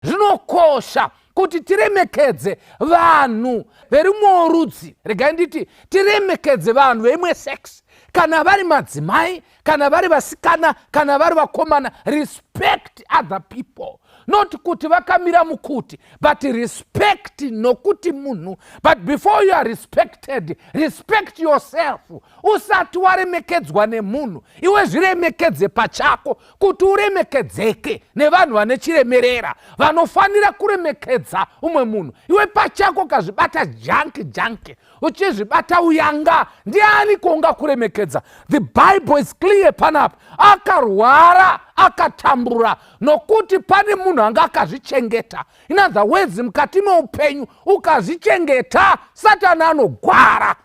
zvinokosha kuti tiremekedze vanhu verimwewo rudzi regai nditi tiremekedze vanhu veimwe sex kana vari madzimai kana vari vasikana kana vari vakomana respect other people not kuti vakamira mukuti but respect nokuti munhu but before you are respected respect yourself usati waremekedzwa nemunhu iwe zviremekedze pachako kuti uremekedzeke nevanhu vane chiremerera vanofanira kuremekedza umwe munhu iwe pachako kazvibata janki janki uchizvibata uyanga ndiani kuunga kuremekedza the bible is clear panapa akarwara akatambura nokuti pane munhu anga akazvichengeta in other words mukati meupenyu ukazvichengeta satani anogwara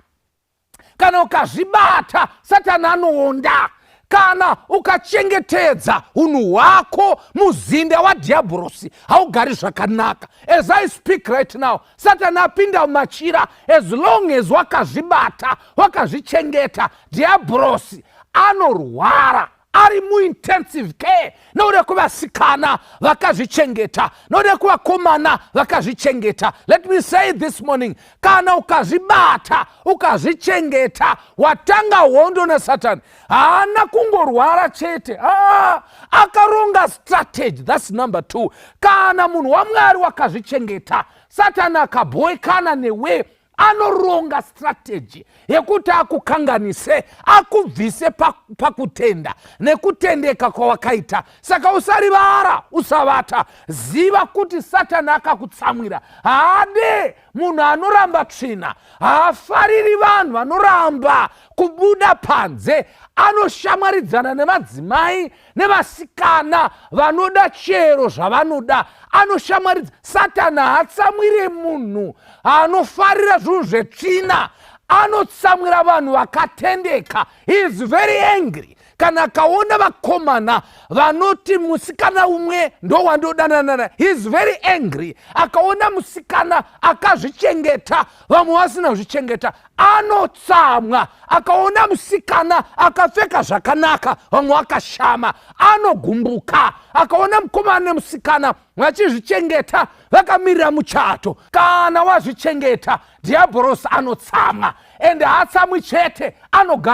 kana ukazvibata satani anoonda kana ukachengetedza unhu hwako muzinda wadhiyabhorosi haugari zvakanaka as i speak right now satani apinda mumachira as long as wakazvibata wakazvichengeta dhiyabhorosi anorwara ari muintensive care nokuda kwevasikana vakazvichengeta nokuda kwevakomana vakazvichengeta let me say this morning kana ukazvibata ukazvichengeta watanga hondo nasatani haana kungorwara chete aa akaronga strategy thats number two kana munhu wamwari wakazvichengeta satani akabhoekana newe anoronga strategy yekuti akukanganise akubvise pakutenda pa nekutendeka kwawakaita saka usarivara usavata ziva kuti satani akakutsamwira haade munhu anoramba tsvina haafariri vanhu vanoramba kubuda panze anoshamwaridzana nemadzimai nevasikana vanoda chero zvavanoda anoshamaridza satani haatsamwire munhu anofarira zvinhu zvetsvina anotsamwira vanhu vakatendeka he is very angry kana akaona vakomana vanoti musikana umwe ndowandodananana he is very angry akaona musikana akazvichengeta vamwe vasina kuzvichengeta anotsamwa akaona musikana akapfeka zvakanaka vamwe vakashama anogumbuka akaona mukomana nemusikana vachizvichengeta vakamirira muchato kana wazvichengeta dhiyabhorosi anotsamwa ende haatsamwi chete anogara